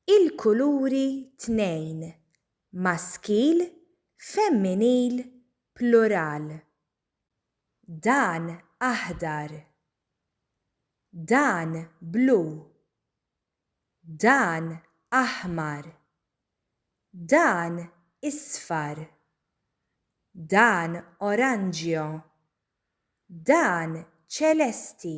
Il-kuluri tnejn, maskil, femminil, plural. Dan aħdar. Dan blu. Dan aħmar. Dan isfar. Dan oranġjo. Dan ċelesti.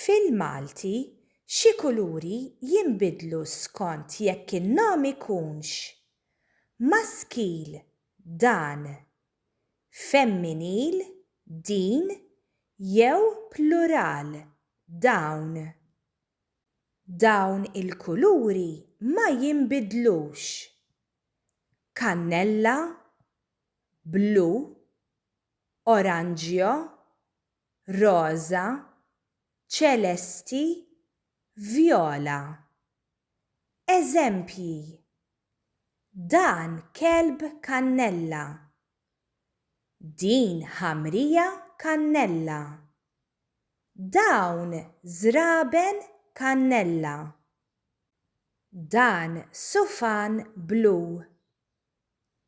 Fil-Malti, xi kuluri jinbidlu skont jekk in-nom ikunx, maskil, dan, femminil, din, jew plural, dawn. Dawn il-kuluri ma jinbidlux, kannella, blu, oranġjo, roża, ċelesti, vjola. Eżempji, Dan kelb kannella. Din ħamrija kannella. Dawn żraben kannella. Dan sufan blu.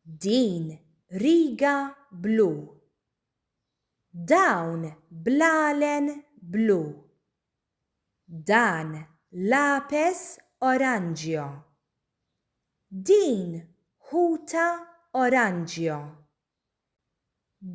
Din riga blu. Dawn bl-għalen blu. Dan l-apes oranġjo. Din ħuta oranġjo.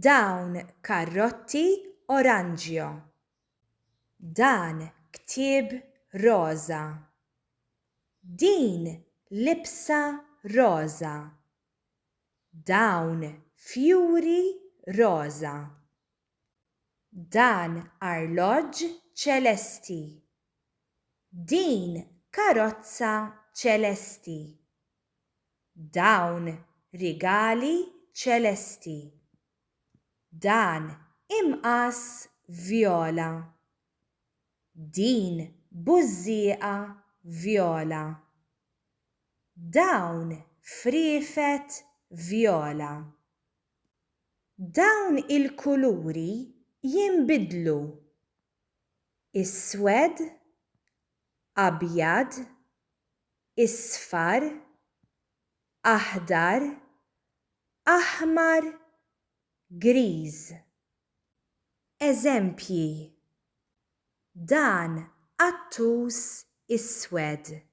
Dawn karrotti oranġjo. Dan ktieb roża. Din libsa roża. Dawn fjuri roża. Dan arloġġ ċelesti. Din karozza ċelesti. Dawn rigali ċelesti. Dan imqass vjola. Din bużżieqa vjola. Dawn friefet vjola. Dawn il-kuluri jinbidlu. Iswed, abjad, isfar, aħdar, aħmar, griż. Eżempji, Dan qattus iswed.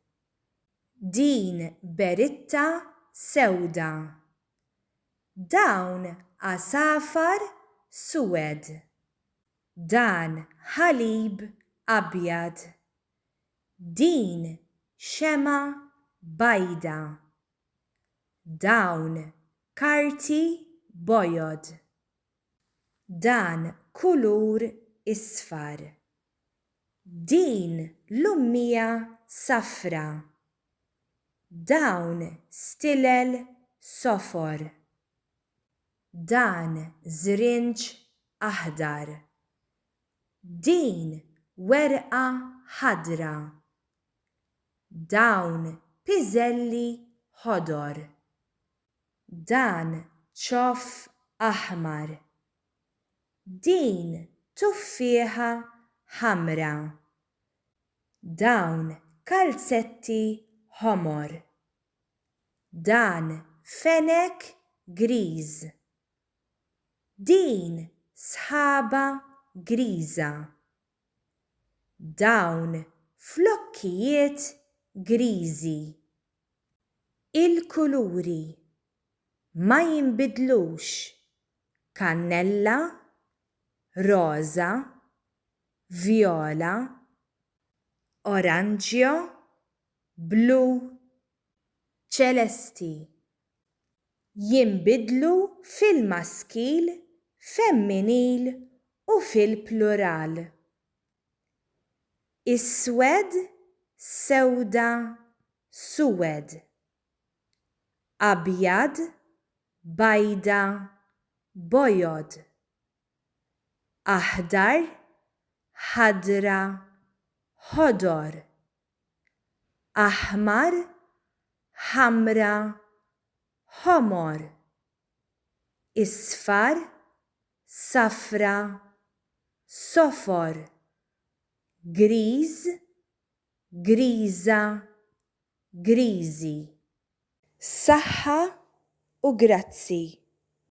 Din beritta sewda. Dawn għasafar suwed. Dan ħalib abjad. Din xemgħa bajda. Dawn karti bojod. Dan kulur isfar. Din l-ummija safra. Dawn stilel sofor. Dan żrinġ aħdar. Din werqa ħadra. Dawn piżelli ħodor. Dan ċoff aħmar. Din tuffieħa ħamra. Dawn kalzetti ħomor. Dan fenek griż. Din sħaba griża. dawn flokkijiet griżi. Il-kuluri ma jinbidlux, kannella, roża, vjola, oranġjo, blu, ċelesti. jinbidlu fil-maskil, femminil u fil-plural. Iswed, sewda, suwed. Abjad, bajda, bojod. Aħdar, ħadra, ħodor. aħmar, ħamra, ħomor, isfar, safra, sofor, griż, griża, griżi. Saħħa u grazzi.